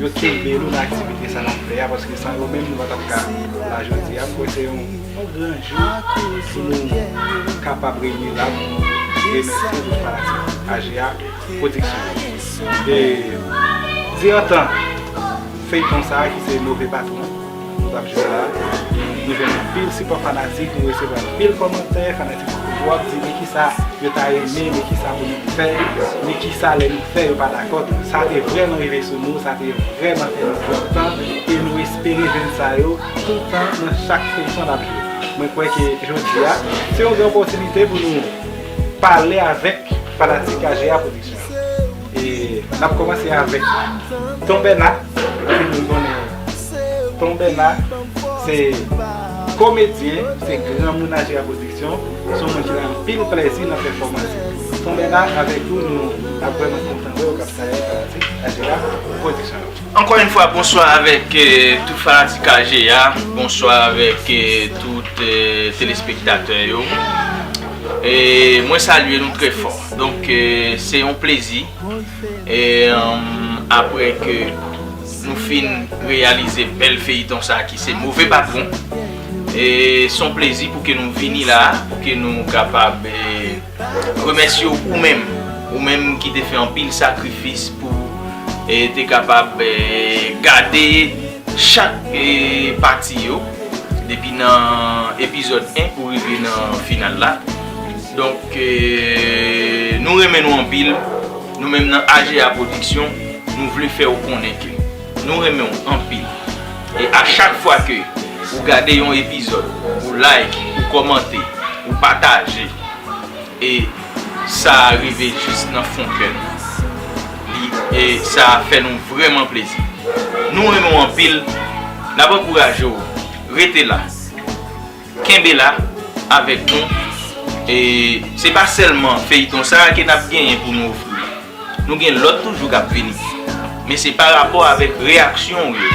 Yo kenbe nou nan aktivite sa nap fè a paske san yo menm nou pa tap ka la jodi a. M kwè se yon gran jou pou nou kapab reyini la pou nou remèsye tout fanatik AJA production. E di antan feyton sa ki se move patron. Nou tap jwe la. Nou jwenn anpil sipò fanatik, nou resevwa anpil kòmantè, fanatik yo toujou ap di men kisa yo ta renmen, men kisa pou nou fè, men kisa lè nou fè yo pa dakò. Donk sa te vrèman rive sou nou, sa te vrèman fè nou kontan e nou espere jwenn sa yo toutan nan chak feyton nap jwe. Mwen kwè ke jodi a se yon gran opòtinite pou nou pale avèk fanatik AJA production yo. E nap komanse avèk ton Bèna, tout moun konnen ton Bèna se komedyen, se gran moun Ajera Production, son moun ki nan anpil plèzi nan pèfòmans li. Ton Bèna avèk ou nou ap vrèman kontan wèw kap travay nan fanatik Ajera Production yo. Ankò yon fwa bonswa avèk tout fanatik Ajera, bonswa avèk tout telespektatè yo. E mwen salye nou trè fò. Donk se yon plezi apre ke nou fin reyalize bèl feyiton sa ki se move patwon e son plezi pou ke nou vini la pou ke nou kapab remèsye w ou menm ou menm ki te fè anpil sakrifis pou te kapab gade chak pati yo depi nan epizòd 1 pou rive nan final la. Donk nou renmen nou anpil, nou menm nan AJA production nou vle fè ou konnen ke nou renmen ou anpil e a chak fwa ke ou gade yon epizòd ou like, ou kòmante, ou pataje e sa a rive jis nan fon kè nou e sa a fè nou vrèman plezi nou renmen ou anpil n ap ankouraje ou rete la. Kenbe la avèk nou e se pa sèlman feyton sa ke nap genyen pou nou ofri ou. Nou gen lòt toujou kap vini. Men se pa rapò avèk reyaksyon ou yo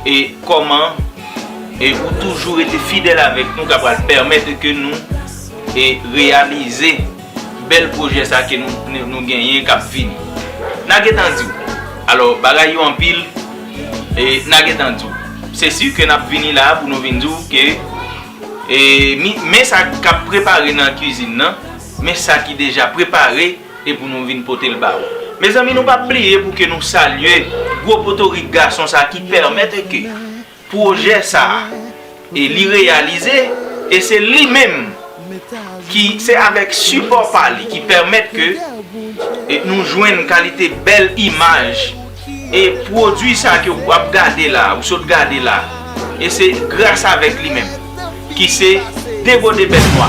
e kòman e ou toujou rete fidèl avèk nou ka pral pèmèt ke nou e reyalize bèl pwojè sa ke nou genyen kap vini. Na gentan di ou. Alò bagay yo anpil. e na gentan di w. Se si ke nap vini la pou nou vin di w ke e men sa kap prepare nan kizin nan, men sa ki deja prepare e pou nou vin pote l ba ou. Mezanmi nou pa bliye pou ke nou salye gwo potorik gason sa ki pèmèt e ke pwojè sa. E li reyalize, e se li menm ki, se avèk sipò pa li ki pèmèt ke nou jwenn kalite bèl imaj e pwodui sa ke ou ap gade la, ou sot gade la, e se gras avèk li menm ki se Degode Bèt Nwa.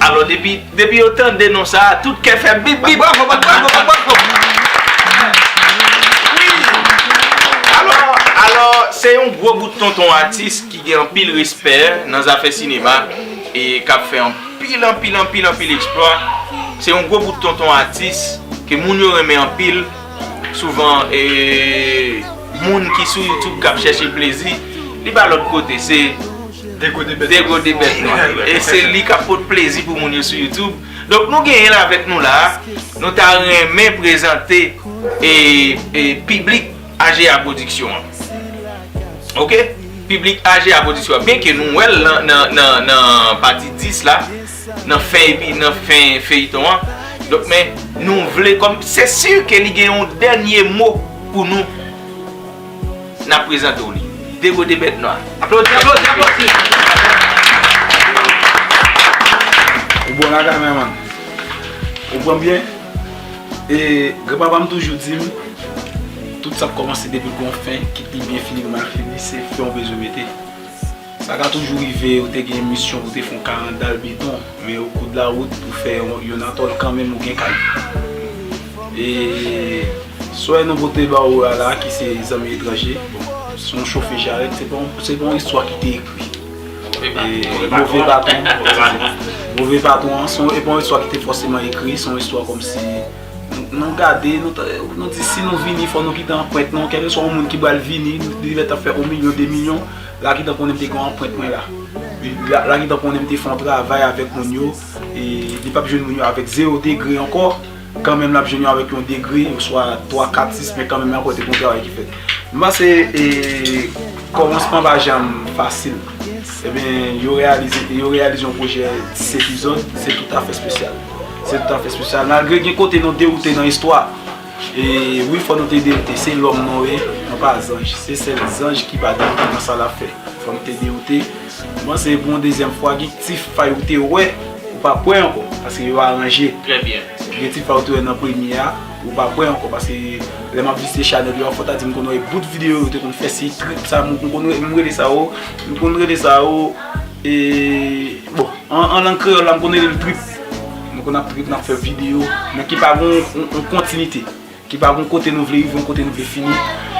Alò depi depi yo tande non sa a tout kè fè bip bip. Bwavo bwavo bwavo. Alò alò se yon gwo bout tonton atis ki gen anpil respè nan zafè sinema e k ap fè anpil anpil anpil anpil eksplwa. Se yon gwo bout tonton atis ke moun yo renmen anpil. Souvan e moun ki sou youtube kap chèche plezi li pa lòt kote se degode bèt nwa yo e se li kap pot plezi pou moun yo sou youtube donk nou genyen l avèk nou la nou ta renmen prezante e piblik AJA production an ok piblik AJA production an byenke nou wèl nan pati 10 la. nan fèy li nan fen feyton an donk men nou vle kòm se si ke li gen yon dènye mo pou nou nan prezante w li degode bèt nwa aplodi aplodi aplodi ou bon lakay mè man ou pranm byen e gran papa m toujou di m tout sa p kòmanse depi l gon fen ki pi byen fini k mal fini se fen w bezwen mete. Sa ka toujou rive ou te gen misyon pou te fon karandal beton men o kou de la wout pou fè yon atòl kanmenm ou gen kay. E swè nou pote ba ou a la ki se zanmi etranje bon se yon chofe jarèt se pa yon istwa ki te ekri. Move baton. Move baton an se pa yon istwa ki te fòseman ekri se yon istwa kòmsi nou gade nou di si nou vini fò nou kite anprent nou kèlkeswa yon moun ki pral vini li mèt ap fè yon milyon de milyon. Lakitan konnen m te gen anprent mwen la. Lakitan konnen m te fè yon travay avèk moun yo, e li pap jwenn moun yo avèk zewo degre ankò, kanmenm l ap jwenn yo avèk yon degre, oswa twa, kat, sis, men kanmenm ankò te gen yon travay ki fèt. M panse kòmansman pa janm fasil. Ebyen, yo reyalize yon pwojè 10 epizòd, se toutafè espesyal. Se toutafè espesyal. Malgre gen kote nou dewoute nan istwa. E wi fò nou te deyoute se lòm nou ye nou pa zanj se sèl zanj ki pa deyoute nan sa lap fè fò nou te deyoute bon se pou yon dezyèm fwa gen ti fay ou te wè ou pa kwè ankò paske yo aranje gen ti fay ou te wè nan premye a ou pa kwè ankò paske lè map vizite chanèl yo a fò ta di m konn wè bout videyo ou te konn fè si trip sa m konn wè m rele sa o m konn rele sa o e bon an lang kreyòl la m konn rele l trip. Nou konn ap trip, n ap fè videyo, men ki pa gen yon kontinite. Ki pa gen yon kote nou vle rive, yon kote nou vle fini.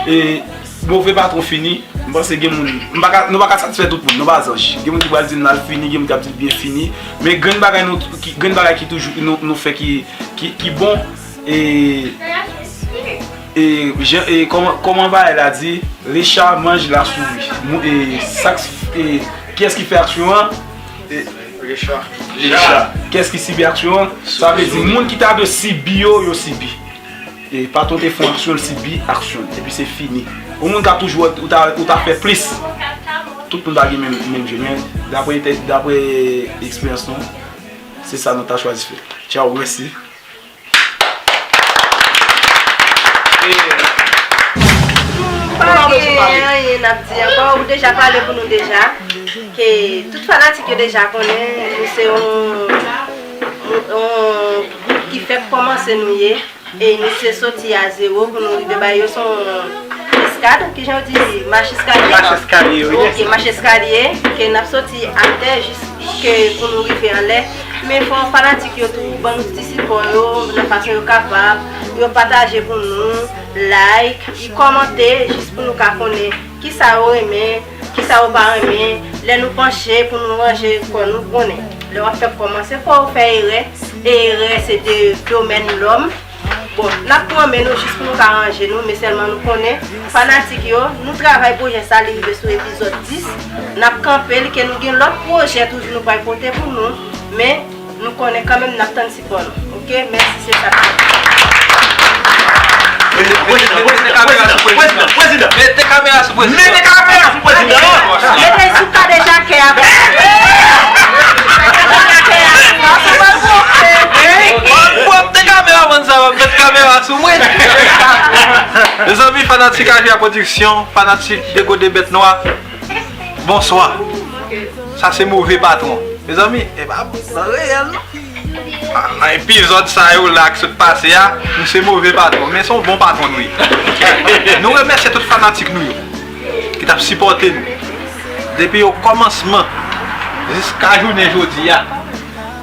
E move pa twò fini, m panse gen moun, nou pa ka satisfè tout moun, nou pa zanj. Gen moun ki pral di l mal fini, gen moun ki ap di l byen fini. Men grenn bagay nou, grenn bagay ki toujou, nou fè ki bon. E, e, jan, e, kòman, kòman bagay la di, le chat mange la souris. Mou, e, sa k, e, kiyès ki fè aksyon an? Se Recha. Recha. Kès ki sibi aksyon an? Sa vle di moun ki ta dwe sibi yo, yo sibi. E patrón te fon aksyon, li sibi aksyon l. Epi se fini. Yon moun ka toujou wè ou ta fè plis. Tout moun pa gen menm je men dapre eksperyans nou se sa nou ta chwazi fè. Tchaw mèsi. M pa gen anyen nap di ankò, ou deja pale pou nou deja, ke tout fanatik yo deja konnen nou se yon gwoup ki fèk kòmanse nou ye, e nou se soti a zewo pou nou rive bay yo son eskad, ki jan yo di, mach eskalye? Mach eskalye wi. Ok, mach eskalye, ke nap soti atè jis ke pou nou rive anlè. Men fò fanatik yo tou ban nou ti sipò yo nan fason yo kapab, yo pataje pou nou, like, y kòmante jis pou nou ka konnen kisa yo renmen, kisa yo pa renmen, lè nou panche pou nou ranje kò nou konnen lè wap fè kòman se fò ou fè erè e erè se de domèn lòm. Bon, n ap pran men nou jis pou nou ka ranje nou, men sèlman nou konnen, fanatik yo, nou travay pwojè sa li rive sou epizòd 10, n ap kanpe l ke nou gen lòt pwojè toujou nou pral pote pou nou, men nou konnen kanmenm n ap tann sipò nou. Ok, mèsi se sa ki. Prezidan! Mete kamera sou prezidan! Mete kamera sou prezidan! Mete l sou kadejakè a pou. Kadejakè a pou. Wap te kamera mann sa wap met kamera sou mwen Mezanmi fanatik Aja production fanatik degode bèt nwa bonswa sa se move patron mezanmi epa nan reyèl non nan epizòd sa yo la ki sot pase a nou se move patron men son bon patron nou ye nou remèsye tout fanatik nou yo ki tap sipòte nou depi o kòmansman jiska jounen jodi a.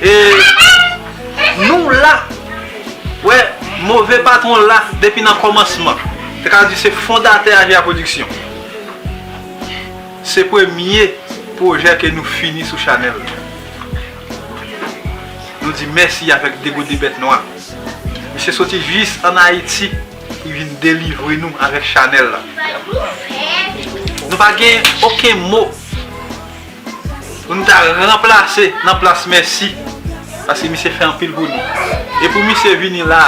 E nou la pou wè move patwon la depi nan kòmansman. Se ka di se fondatè AJA Production. Se premye pwojè ke nou fini sou chanèl la. Nou di mèsi avèk Degode Bèt Nwa. Misye soti jis an Ayiti pou vin delivre nou avèk chanèl la. Nou pa gen oken mo. Pou nou ta ranplase nan plas mèsi paske misye fè anpil pou nou e pou misye vini la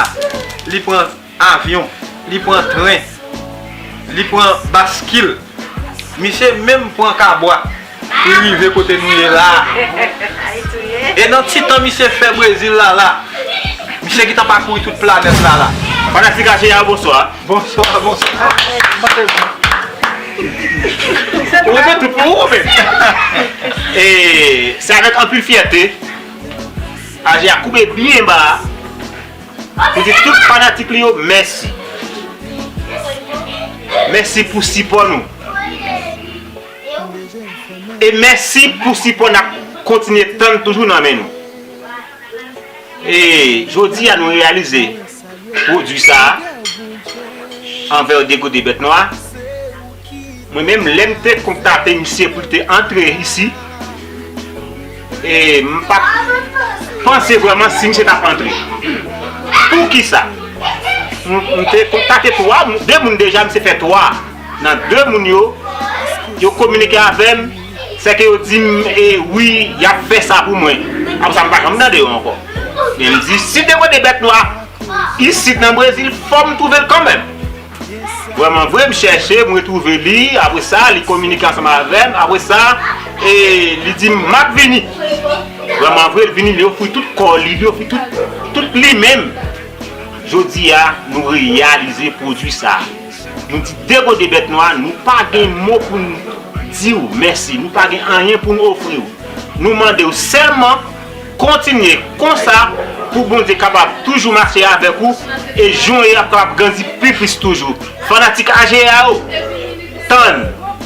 li pran avyon li pran tren li pran baskil misye menm pran kabwa pou li rive kote nou ye la e nan ti tan misye fè brezil la la misye gitan pakouri tout planèt la la. Fanatik HAJA bonswa. Bonswa bonswa Ou remet tout pou ou men E se avèk anpil fyète Aji a koube byen ba Pou di tout fanatik li yo mèsi Mèsi pou sipò nou E mèsi pou sipò nap kontinye tann toujou nan men nou E jodi a nou reyalize pwodwi sa a anvan yo degode bèt nwa a. Mwen menm, lè m te kontate misye pou l te antre isi, e m pa t panse vrèman si misye t ap antre. Poukisa? M te kontate twa moun, de moun deja, misye fè twa. Nan de moun yo, yo kominike avè m. Sèke yo di m, E wi, y ap fè sa pou mwen. Apre sa, m pa janm tande yo ankò. Men m di, Si te pote bèt nwa isit nan Brezil, fò m twouve l kanmenm. Vrèmanvre, m chèche, m retwouve li. Apre sa, li kominike ansanm avè m. Apre sa, li di m, M ap vini. Vrèmanvre, li vini, li ofri tout kò li, li ofri tout li menm. Jodi a, nou reyalize pwodui sa a. Nou di degode bèt nwa, nou pa gen mo pou n di w mèsi, nou pa gen anyen pou n ofri w. Nou mande w sèlman kontinye konsa pou Bondye kapab toujou mache avèk ou e jon yo ap kapab grandi pi plis toujou. Fanatik AJEA yo, tann!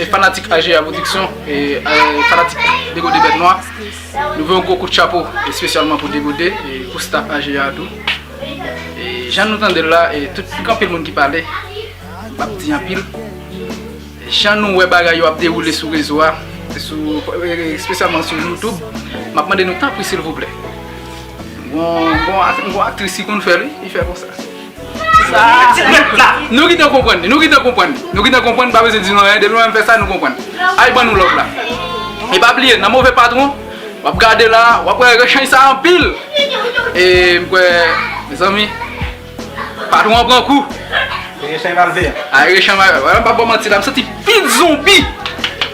E fanatik AJA Production, e fanatik Degode Bèt Nwa, nou voye yon gwo kout chapo espesyalman pou Degode e pou staff AJA a tou. E jan nou tande l la, e tout, gen anpil moun ki pale, m pap di anpil. Jan nou wè bagay yo ap dewoule sou rezo a, espesyalman sou YouTube, m ap mande nou tanpri silvouplè, m gon aktris ki konn fè l wi, li fè konsa. Nou gentan konprann li, nou gentan konprann li, nou gentan konprann li pa bezwen di nou anyen depi mwen menm fè sa nou konprann. Al ban nou love la. E pa bliye nan move patron wap gade la wap wè rechany sa anpil e m kwè mezanmi patron an pran kou. Rechany pral veye. Ay rechany wè m pap baw manti la m santi pil zonbi.